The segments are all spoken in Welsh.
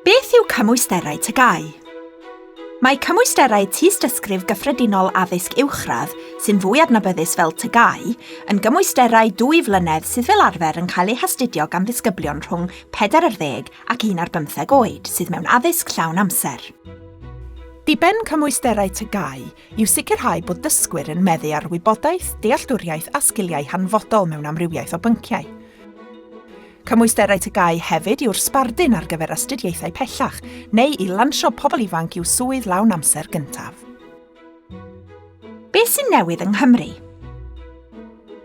Beth yw cymwysterau TGAU? Mae cymwysterau Tystysgrif Gyffredinol Addysg Uwchradd, sy'n fwy adnabyddus fel TGAU, yn gymwysterau dwy flynedd sydd fel arfer yn cael eu hastudio gan ddisgyblion rhwng 40 ac 11 oed sydd mewn addysg llawn amser. Diben cymwysterau TGAU yw sicrhau bod dysgwyr yn meddu ar wybodaeth, dealltwriaeth a sgiliau hanfodol mewn amrywiaeth o bynciau. Cymwysterau TGAU hefyd yw'r sbardun ar gyfer astudiaethau pellach neu i lansio pobl ifanc i'w swydd lawn amser gyntaf. Beth sy'n newydd yng Nghymru?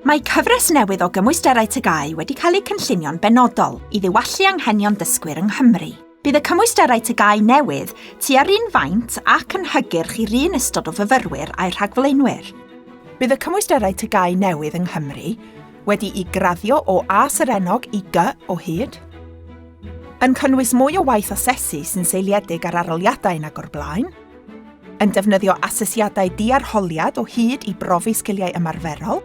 Mae cyfres newydd o gymwysterau TGAU wedi cael eu cynllunio'n benodol i ddiwallu anghenion dysgwyr yng Nghymru. Bydd y cymwysterau TGAU newydd tua'r un faint ac yn hygyrch i'r un ystod o fyfyrwyr a'u rhagflaenwyr. Bydd y cymwysterau TGAU newydd yng Nghymru Wedi'i graddio o A serennog i Gy o hyd. Yn cynnwys mwy o waith asesu sy'n seiliedig ar aroliadau nag o'r blaen. Yn defnyddio asesiadau diarholiad o hyd i brofi sgiliau ymarferol.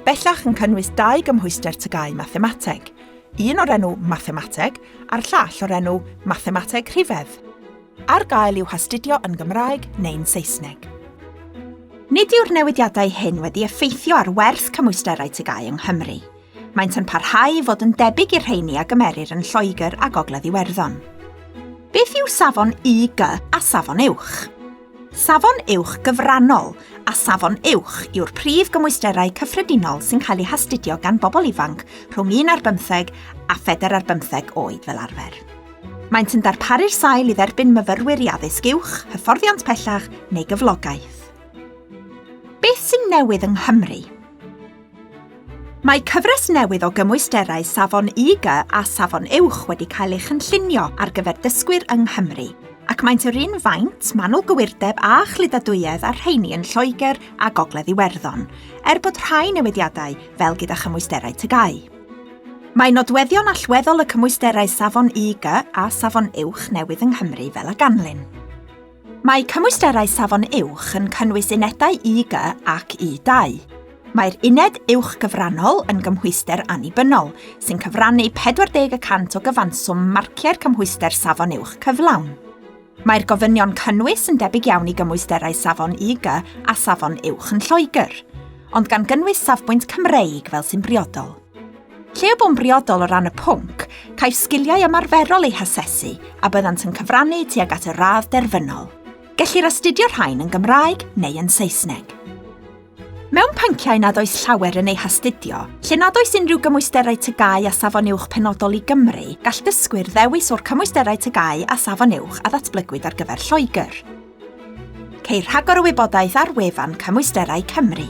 Bellach yn cynnwys dau gymhwyster tygau mathemateg, un o'r enw mathemateg a'r llall o'r enw mathemateg rhifedd. Ar gael i'w hastudio yn Gymraeg neu'n Saesneg. Nid yw'r newidiadau hyn wedi effeithio ar werth cymwysterau tygau yng Nghymru. Maent yn parhau i fod yn debyg i'r rheini a gymerir yn Lloegr a Gogledd Iwerddon. Beth yw safon IG a safon uwch? Safon uwch gyfrannol a safon uwch yw'r prif gymwysterau cyffredinol sy'n cael eu hastudio gan bobl ifanc rhwng un ar bymtheg a phedair ar bymtheg oed fel arfer. Maent yn darparu'r sail i dderbyn myfyrwyr i addysg uwch, hyfforddiant pellach neu gyflogaeth. Beth sy'n newydd yng Nghymru? Mae cyfres newydd o gymwysterau Safon IG a Safon Uwch wedi cael ei chynllunio ar gyfer dysgwyr yng Nghymru, ac maent yr un faint, manwl gywirdeb a chluddadwyedd a'r rheini yn Lloegr a Gogledd Iwerddon, er bod rhai newidiadau, fel gyda chymwysterau TGAU. Mae nodweddion allweddol y cymwysterau safon IG a safon uwch newydd yng Nghymru fel a ganlyn. Mae cymwysterau safon uwch yn cynnwys unedau IG ac I2. Mae'r uned uwch gyfrannol yn gymhwyster annibynnol, sy'n cyfrannu 40 y cant o gyfanswm marciau'r cymhwyster safon uwch cyflawn. Mae'r gofynion cynnwys yn debyg iawn i gymwysterau safon IG a safon uwch yn Lloegr, ond gan gynnwys safbwynt Cymreig fel sy'n briodol. Lle y bo'n briodol o ran y pwnc, caiff sgiliau ymarferol eu hasesu a byddant yn cyfrannu tuag at y radd derfynol. Gellir astudio rhain yn Gymraeg neu yn Saesneg. Mewn pynciau nad oes llawer yn eu hastudio, lle nad oes unrhyw gymwysterau tygau a safon uwch penodol i Gymru, gall dysgwyr ddewis o'r cymwysterau tygau a safon uwch a ddatblygwyd ar gyfer Lloegr. Ceir rhagor o wybodaeth ar wefan Cymwysterau Cymru.